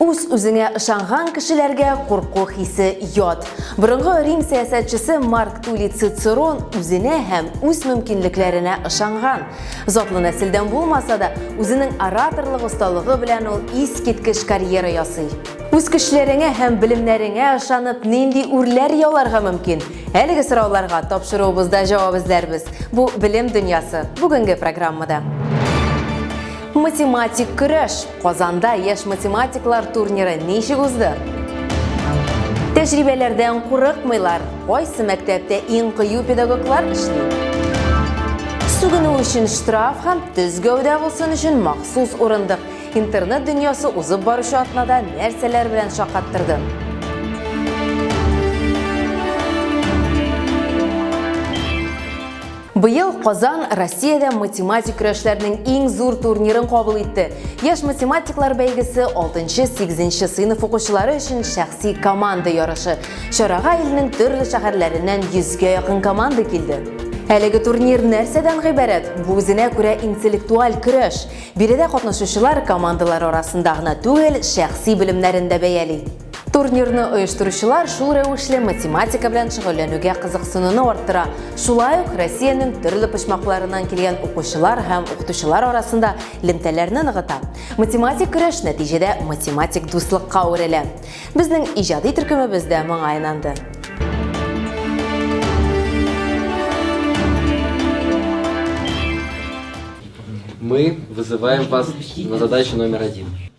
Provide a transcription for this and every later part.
Үз-үзеңә ышанган кешеләргә курку хисе ят. Борынгы Рим сәясәтчесе Марк Тули Цицерон үзенә һәм үз мөмкинлекләренә ышанган. Затлы нәселдән булмаса да, үзенең ораторлык осталыгы белән ул искиткеч карьера ясый. Үз көчләреңә һәм белемнәреңә ышанып, нинди үрләр яуларга мөмкин? Әлеге сорауларга тапшыруыбызда җавап эзләрбез. Бу Белем дөньясы бүгенге программада. Математик көрәш. Казанда яшь математиклар турниры ничек узды? Тәҗрибәләрдән курыкмыйлар. Кайсы мәктәптә иң кыю педагоглар эшли? Сүгенү өчен штраф һәм төз гәүдә булсын өчен махсус урындык. Интернет дөньясы узып баручы атнада нәрсәләр белән шакаттырды? Быел Казан Россиядә математик көрәшләрнең иң зур турнирын кабул итте. Яш математиклар бәйгесе 6-8 сыйныф укучылары өчен шәхси команда ярышы. Чарага илнең төрле шәһәрләреннән 100гә якын команда килде. Әлеге турнир нәрсәдән гыйбарәт? Бу үзенә күрә интеллектуаль көрәш. Биредә катнашучылар командалар арасында гына түгел, шәхси белемнәрен дә бәяли. Турнирны оештыручылар шул рәвешле математика белән шөгыльләнүгә кызыксынуны арттыра. Шулай ук Россиянең төрле почмакларыннан килгән укучылар һәм укытучылар арасында лемтәләрне ныгыта. Математик көрәш нәтиҗәдә математик дуслыкка әверелә. Безнең иҗади төркемебез дә моңа инанды. Мы вызываем вас на задачу номер один.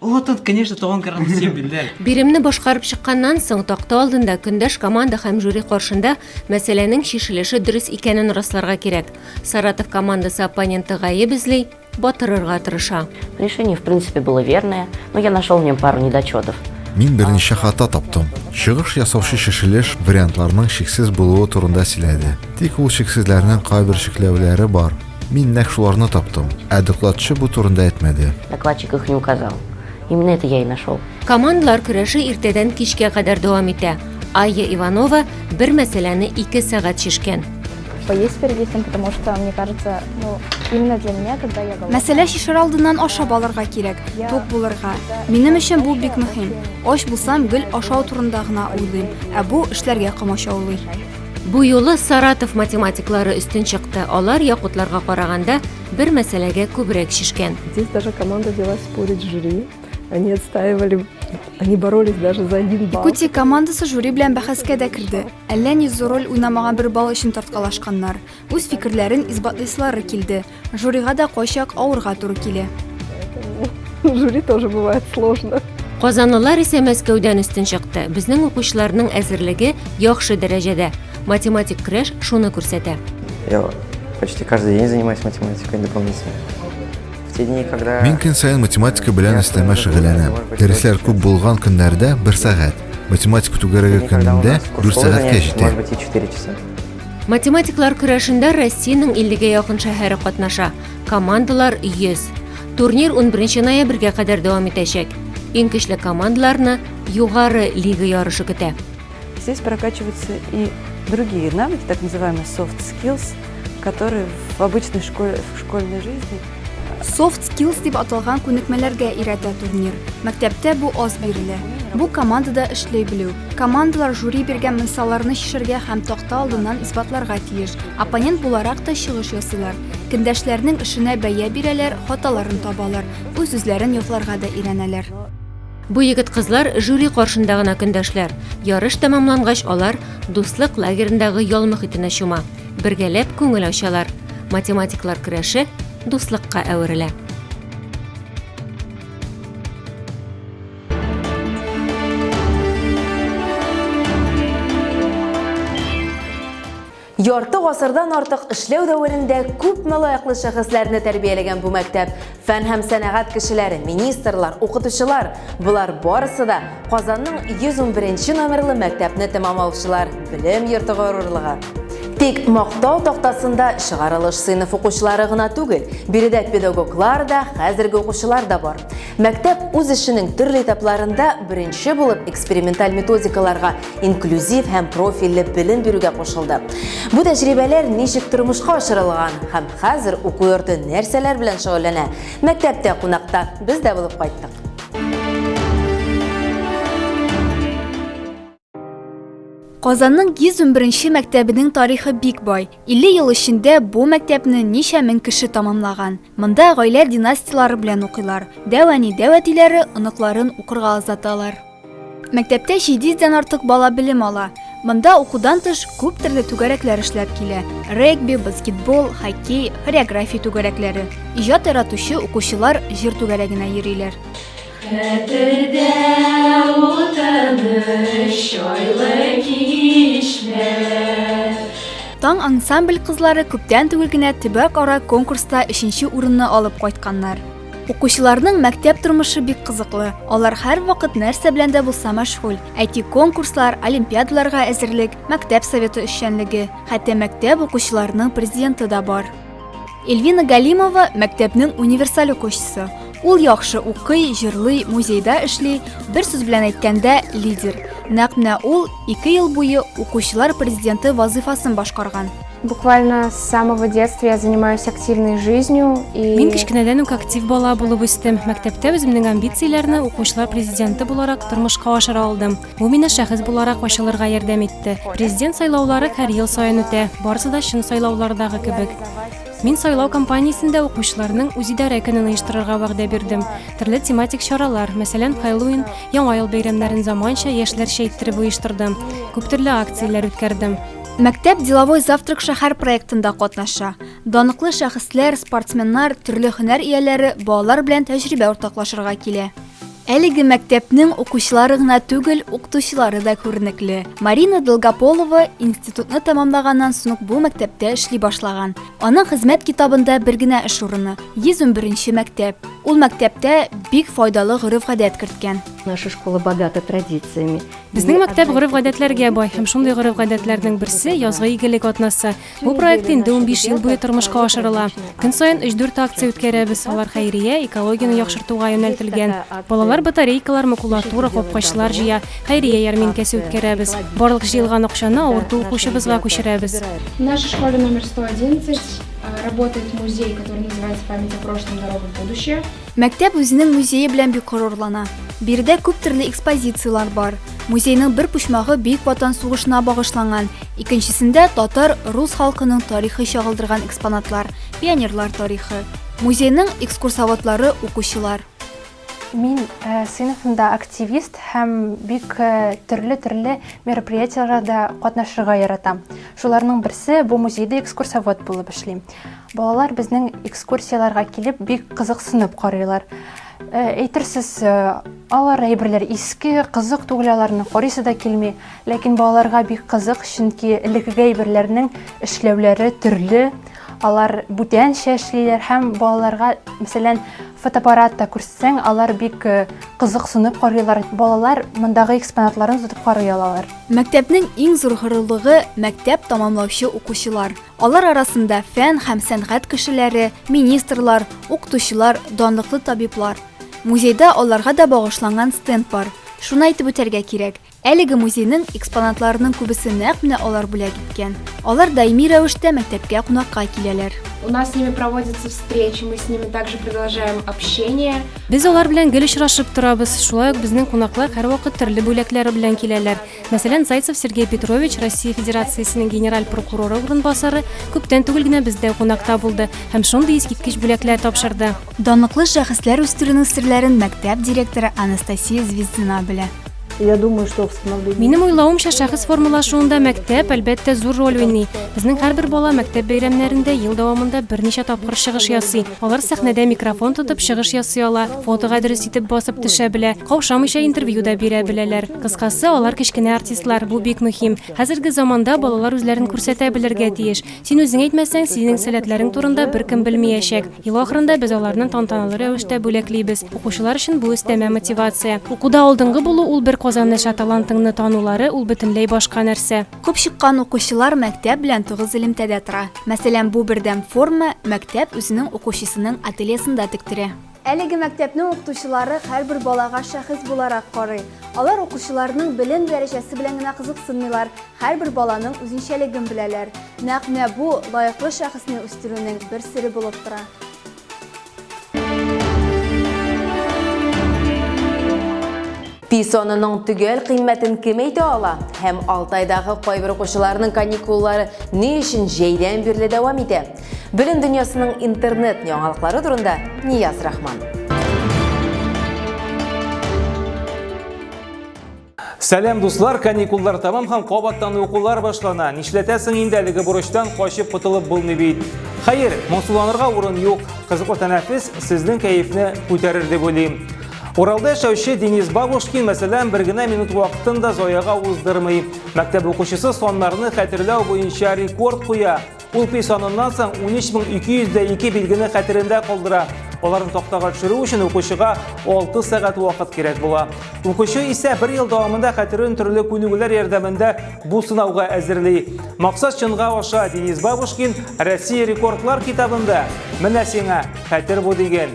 О, тут, конечно, туган карагыз син билдә. Биремне башкарып чыкканнан соң такта алдында көндәш команда һәм жюри каршында мәсьәләнең чишелеше дөрес икәнен расларга кирәк. Саратов командасы оппоненты гаеп эзли, батырырга тырыша. Решение, в принципе, было верное, но я нашел в нем пару недочетов. Мин берничә хата таптым. Чыгыш ясаучы шешелеш вариантларның шиксез булуы турында сөйләде. Тик ул шиксезләрнең кайбер чикләүләре бар. Мин нәкъ шуларны таптым. Ә докладчы бу турында әйтмәде. Докладчик их не указал. Именно это я и нашел. Командалар көрәше иртәдән кичкә кадәр дәвам итә. Айя Иванова бер мәсьәләне ике сәгать шешкән. Что есть перед этим, потому что, мне кажется, ну, именно для меня, когда я голодна... Мәсьәлә шешер алдыннан ашап алырга кирәк, тук булырга. Минем өчен бу бик мөһим. Ач булсам, гел ашау турында гына уйлыйм, ә бу эшләргә комачаулый. Бу юлы Саратов математиклары өстен чыкты. Алар якутларга караганда бер мәсьәләгә күбрәк шешкән. Здесь даже команда взялась спорить с жюри. Они отстаивали, они боролись даже за один балл. Якутия командасы жюри белән бәхәскә дә керде. Әллә ни зур роль уйнамаган бер балл өчен тарткалашканнар. Үз фикерләрен исбатлыйсылары килде. Жюрига да кайчак авырга туры килә. Жюри тоже бывает сложно. Казанлылар исә Мәскәүдән өстен чыкты. Безнең укучыларның әзерлеге яхшы дәрәҗәдә. Математик креш шуны күрсәтә. Я почти каждый день занимаюсь математикой дополнительно. В те дни, когда... Мин көн саен математика белән өстәмә шөгыльләнәм. Дәресләр күп булган көннәрдә бер сәгать, математика түгәрәге көнендә дүрт сәгатькә җитә. Математиклар көрәшендә Россиянең 50-гә якын шәһәре катнаша. Командалар 100. Турнир 11 ноябрьгә кадәр дәвам итәчәк. Иң көчле командаларны югары лига ярышы көтә. Здесь прокачиваются и другие навыки, так называемые soft skills, которые в обычной школе, в школьной жизни Soft Skills дип аталган күнекмәләргә өйрәтә турнир. Мәктәптә бу аз бирелә. Бу командада эшли белү. Командалар жюри биргән мисалларны чишергә һәм такта алдыннан исбатларга тиеш. Оппонент буларак та чыгыш ясыйлар. Кендәшләрнең эшенә бәя бирәләр, хаталарын табалар, үз-үзләрен якларга да өйрәнәләр. Бу егет-кызлар жюри каршында гына көндәшләр. Ярыш тәмамлангач, алар Дуслык лагерендагы ял мөхитенә чума. Бергәләп күңел ачалар. Математиклар көрәше дуслыкка әверелә. Ярты гасырдан артык эшләү дәверендә күпме лаеклы шәхесләрне тәрбияләгән бу мәктәп, фән һәм сәнәгать кешеләре, министрлар, укытучылар, болар барысы да Казанның 111 нче номерлы мәктәпне тәмамлаучылар, белем йорты горурлыгы. Тик Мактау тактасында чыгарылыш сыйныф укучылары гына түгел, биредә педагоглар да, хәзерге укучылар да бар. Мәктәп үз эшенең төрле этапларында беренче булып эксперименталь методикаларга, инклюзив һәм профильле белем бирүгә кушылды. Бу тәҗрибәләр ничек тормышка ашырылган һәм хәзер уку йорты нәрсәләр белән шөгыльләнә? Мәктәптә кунакта без дә булып кайттык. Казанның 111 мәктәбенең тарихы бик бай. 50 ел эчендә бу мәктәпне ничә мең кеше тамамлаган. Монда гаилә династияләре белән укыйлар. Дәвәни дәвәтиләре оныкларын укырга озаталар. Мәктәптә 700 дән артык бала белем ала. Монда укудан тыш күп төрле түгәрәкләр эшләп килә. Регби, баскетбол, хоккей, хореография түгәрәкләре. Иҗат яратучы укучылар җыр түгәрәгенә йөриләр. Хәтердә ул тыныч айлы кичләр. Таң ансамбль кызлары күптән түгел генә төбәк-ара конкурста өченче урынны алып кайтканнар. Укучыларның мәктәп тормышы бик кызыклы, алар һәрвакыт нәрсә белән дә булса мәшгуль, әйтик, конкурслар, олимпиадаларга әзерлек, мәктәп советы эшчәнлеге, хәтта мәктәп укучыларының президенты да бар. Эльвина Галимова мәктәпнең универсаль укучысы. Ул яхшы укый, җырлый, музейда эшли, бер сүз белән әйткәндә, лидер. Нәкъ менә ул 2 ел буе укучылар президенты вазыйфасын башкарган. Буквально с самого детства я занимаюсь активной жизнью и Мин кечкенәдән үк актив бала булып үстем. Мәктәптә үземнең амбицияләрне укучылар президенты буларак тормышка ашыра алдым. Бу миңа шәхес буларак ачылырга ярдәм итте. Президент сайлаулары һәр ел саен үтә, барысы да чын сайлаулардагы кебек. Мин сайлау кампаниясендә укучыларның үзидарә көнен оештырырга вәгъдә бирдем. Төрле тематик чаралар, мәсәлән, Хэллоуин, Яңа ел бәйрәмнәрен заманча, яшьләрчә иттереп оештырдым. Күп төрле акцияләр үткәрдем. Мәктәп Деловой завтрак шәһәр проектында катнаша. Даныклы шәхесләр, спортсменнар, төрле һөнәр ияләре балалар белән тәҗрибә уртаклашырга килә. Әлеге мәктәпнең укучылары гына түгел, укытучылары да күренекле. Марина Долгополова институтны тәмамлаганнан соң ук бу мәктәптә эшли башлаган. Аның хезмәт китабында бер генә эш урыны, 111 нче мәктәп. Ул мәктәптә бик файдалы гореф-гадәт керткән. Наша школа богата традициями. Безнең мәктәп гореф-гадәтләргә бай һәм шундый гореф-гадәтләрнең берсе, язгы игелек атнасы. Бу проект инде унбиш ел буе тормышка ашырыла. Көн саен өч-дүрт акция үткәрәбез, алар хәйрия, экологияне яхшыртуга юнәлтелгән. Балалар батарейкалар, макулатура, капкачлар җыя, хәйрия ярминкәсе үткәрәбез. Барлык җыелган акчаны авырту укучыбызга күчерәбез. В нашей школе номер сто одиннадцать работает музей, который называется Память о прошлом, дорога в будущее. Мәктәп үзенең музее белән бик горурлана. Биредә күп төрле экспозицияләр бар. Музейның бер почмагы Бөек Ватан сугышына багышланган, икенчесендә татар, рус халкының тарихы чагылдырган экспонатлар, пионерлар тарихы. Музейның экскурсоводлары, укучылар. Мин сыйныфымда активист һәм бик төрле-төрле мероприятиеләрдә катнашырга яратам. Шуларның берсе, бу музейда экскурсовод булып эшлим. Балалар безнең экскурсияләргә килеп бик кызыксынып карыйлар. Э, әйтерсез, э, алар әйберләр иске, кызык түгел, аларны карыйсы да килми. Ләкин балаларга бик кызык, чөнки элеккеге әйберләрнең эшләүләре төрле. Алар бүтәнчә эшлиләр һәм балаларга, мәсәлән, фотоаппаратта күрсәң, алар бик э, кызыксынып карыйлар. Балалар мондагы экспонатларын тотып карый алалар. Мәктәпнең иң зур горурлыгы мәктәп тәмамлаучы укучылар. Алар арасында фән һәм сәнгать кешеләре, министрлар, укытучылар, данлыклы табиблар. Музейда аларга да багышланган стенд бар. Шуны әйтеп үтәргә кирәк, әлеге музейның экспонатларының күбесе нәкъ менә алар бүләк иткән. Алар даими рәвештә мәктәпкә кунакка киләләр. У нас с ними проводятся встречи, мы с ними также продолжаем общение. Без алар белән гел очрашып торабыз. Шулай ук безнең кунаклар һәрвакыт төрле бүләкләр белән киләләр. Мәсәлән, Зайцев Сергей Петрович, Россия Федерациясенең генераль прокуроры урынбасары, күптән түгел генә бездә кунакта булды һәм шундый искиткеч бүләкләр тапшырды. Данлыклы шәхесләр үстерүнең серләрен мәктәп директоры Анастасия Звездина белә. Я думаю, что в становлении... Минем уйлавымча, шәхес формалашуында мәктәп, әлбәттә, зур роль уйный. Безнең һәрбер бала мәктәп бәйрәмнәрендә ел дәвамында берничә тапкыр чыгыш ясый. Алар сәхнәдә микрофон тотып чыгыш ясый ала. Фотога дөрес итеп басып төшә белә, каушамыйча интервью да бирә беләләр. Кыскасы, алар кечкенә артистлар, бу бик мөһим. Хәзерге заманда балалар үзләрен күрсәтә белергә тиеш. Син үзең әйтмәсәң, синең сәләтләрең турында беркем белмиячәк. Ел ахырында без аларны тантаналы рәвештә бүләклибез. Укучылар өчен бу өстәмә мотивация. Укуда алдынгы булу ул бер казанныча, талантыңны танулары ул бөтенләй башка нәрсә. Күп чыккан укучылар мәктәп белән тыгыз элемтәдә тора. Мәсәлән, бу бердәм форма мәктәп үзенең укучысының ательесында тектерә. Әлеге мәктәпнең укытучылары һәрбер балага шәхес буларак карый. Алар укучыларның белем дәрәҗәсе белән генә кызыксынмыйлар, һәрбер баланың үзенчәлеген беләләр. Нәкъ менә бу лаеклы шәхесне үстерүнең бер сере булып тора. Пи санының төгәл кыйммәтен кем әйтә ала? Һәм Алтайдагы кайбер укучыларның каникуллары ни өчен җәйдән бирле дәвам итә? Белем дөньясының интернет яңалыклары турында Нияз Рахман. Сәлам дуслар, каникуллар тамам һәм кабаттан укулар башлана. Нишләтәсең инде әлеге бурычтан качып котылып булмый бит. Хәер, моңсуланырга урын юк. Кызыклы тәнәфес сезнең кәефне күтәрер дип уйлыйм. Уралда яшәүче Денис Бабушкин, мәсәлән, бер генә минут вакытын да заяга уздырмый. Мәктәп укучысы саннарны хәтерләү буенча рекорд куя. Ул пи саныннан соң 13202 билгене хәтерендә калдыра. Аларны тактага төшерү өчен укучыга 6 сәгать вакыт кирәк була. Укучы исә бер ел дәвамында хәтерен төрле күнегүләр ярдәмендә бу сынауга әзерли. Максат чынга аша Денис Бабушкин Россия рекордлар китабында. Менә сиңа хәтер бу диген.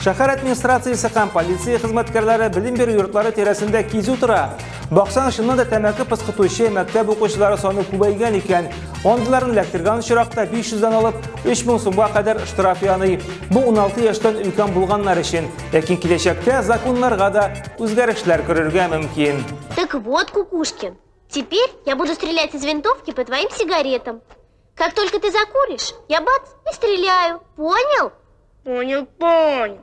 Шәһәр администрациясе һәм полиция хезмәткәрләре белем бирү йортлары тирәсендә кизү тора. Баксаң, чыннан да тәмәке пыскытучы мәктәп укучылары саны күбәйгән икән. Андыйларны эләктергән очракта 500 дән алып 3000 сумга кадәр штраф яный. Бу 16 яшьтән өлкән булганнар өчен. Ләкин киләчәктә законнарга да үзгәрешләр керергә мөмкин. Так вот, Кукушкин, теперь я буду стрелять из винтовки по твоим сигаретам. Как только ты закуришь, я бац и стреляю. Понял? Понял, понял.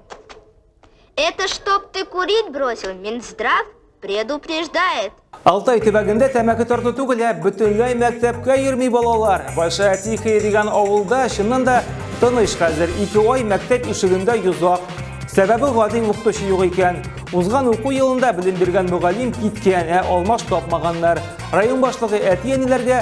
Это чтоб ты курить бросил, Минздрав предупреждает. Алтай төбәгендә тәмәке тарту түгел, ә бөтенләй мәктәпкә йөрми балалар. Большая Тихая дигән авылда чыннан да тыныч хәзер. Ике ай мәктәп ишегендә йозак. Сәбәбе гади укытучы юк икән. Узган уку елында белем биргән мөгаллим киткән, ә алмаш тапмаганнар. Район башлыгы әти-әниләргә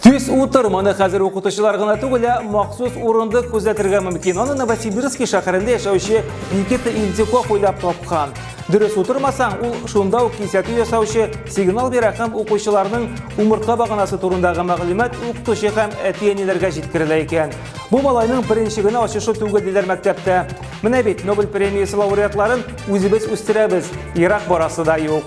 Төс утыр, моны хәзер укытучылар гына түгел, ә махсус урындык күзәтергә мөмкин. Аны Новосибирский шәһәрендә яшәүче Никита Ильдюков уйлап тапкан. Дөрес утырмасаң, ул шунда ук кисәтү ясаучы сигнал бирә һәм укучыларның умыртка баганасы турындагы мәгълүмат укытучы һәм әти-әниләргә җиткерелә икән. Бу малайның беренче генә ачышы түгел диләр мәктәптә. Менә бит Нобель премиясе лауреатларын үзебез үстерәбез, ерак барасы да юк.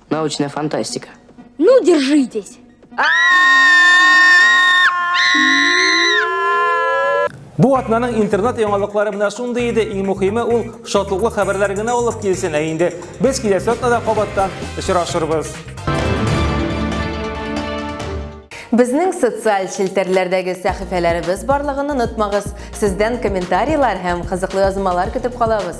Научная фантастика. Ну, держитесь. Бу атнаның интернет яңалыклары менә шундый иде. Иң мөхиме ул шатлыклы хәбәрләр генә алып килсен. Ә инде без киләсе атнада кабаттан очрашырбыз. Безнең социаль челтәрләрдәге сәхифәләребез барлыгын онытмагыз. Сездән комментарийлар һәм кызыклы язмалар көтеп калабыз.